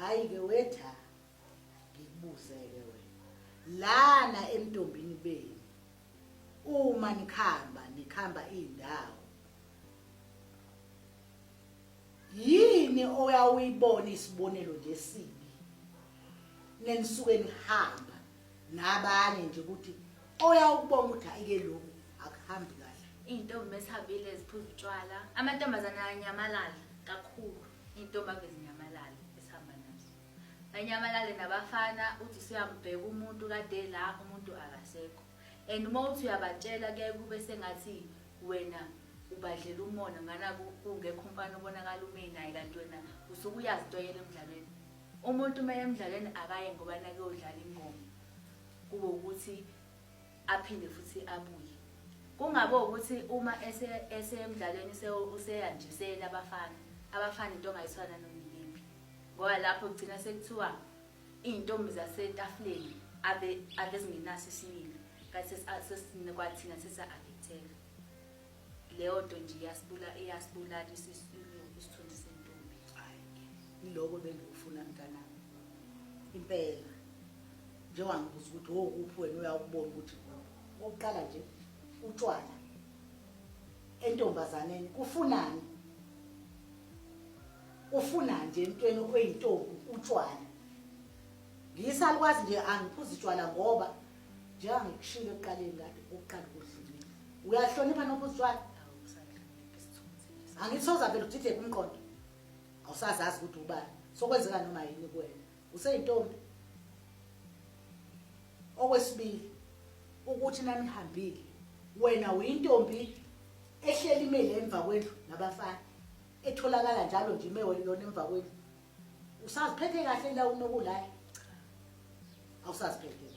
hayi ke wetha ngikubuzeke wena lana entombini benu uma nikhamba nikhamba indawo yini oyawuyibona isibonelo nje sibi nenisuke nihamba nabanye nje ukuthi oyawukubona ukuthi ayike lokhu akuhambi kahle iy'ntombi esihambile ziphuza utshwala amantombazane ayanyamalala kakhulu Intombi ave zinyamalale esihamba nazo. Banyamalale nabafana uthi suyambheka umuntu kade la umuntu akasekho. And uma uthi uyabatshela kuyaye kube sengathi wena ubadlela umona ngana kungekho umfana obonakala ume naye kanti wena usuke uyazi into yena emdlalweni. Umuntu uma emdlalweni akaye ngoba nakuyodlala ingoma kube ukuthi aphinde futhi abuye kungabe ukuthi uma esemdlalweni useyanjiseni abafana abafana into ongayiswana nomyimbi ngoba lapho kugcina sekuthiwa iy'ntombi zasetafuleni abezingenaso isibili kanti kwathina sesa-affecteka leyo nto nje iyasibulala isithunzi sentombi iloko bengikufuna mntanami impela nje wangibuza ukuthi wokuphi wena uyawukubona ukuthi okokuqala nje utshwala entombazaneni kufunani ufuna nje emntweni oyintombi utshwala ngiyisalukwazi nje angiphuzi tshwala ngoba njengangikushilo ekuqaleni kade ukuqala kudlulile uyahlonipha nophuzi tshwala angithi sozavele udideke umqondo awusazazi ukuthi ubani sokwenzeka noma yini kuwena useyintombi okwesibili ukuthi nanihambile wena uyintombi ehleli imele emva kwendlu nabafana etholakala njalo nje imewe lona emva kwendlu usaziphethe kahle la unokulala awusaziphethe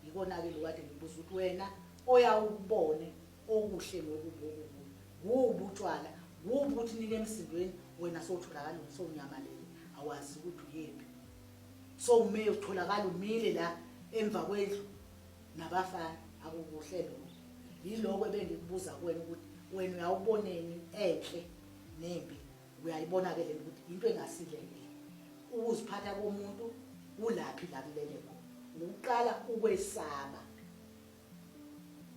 Yikona-ke lokhu kade ngibuza ukuthi wena oyawukubone okuhle ngokubi okubi kuwubi utshwala kuwubi ukuthi nike emsindweni wena sowutholakala sowunyamalele awazi ukuthi uyephi sowume utholakala umile la emva kwendlu nabafana akukuhle lokho yiloko ebengikubuza kuwena ukuthi wena uyawuboneni enhle nembi uyayibona ke lento ukuthi into engasile le ukuziphatha komuntu kulaphi la kulele khona ukuqala ukwesaba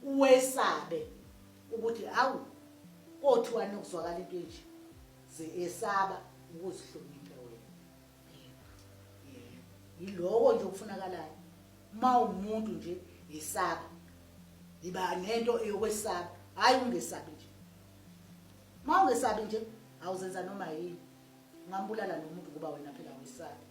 uwesabe ukuthi awu kothiwa nokuzwakala into enje ze esaba ukuzihlonipha wena yiloko nje okufunakalayo uma umuntu nje yisaba yiba nento eyokwesaba hayi ungesabi nje Mawungesabi nje awuzenza noma yini. Ungambulala nomuntu kuba wena phela awuyesabi.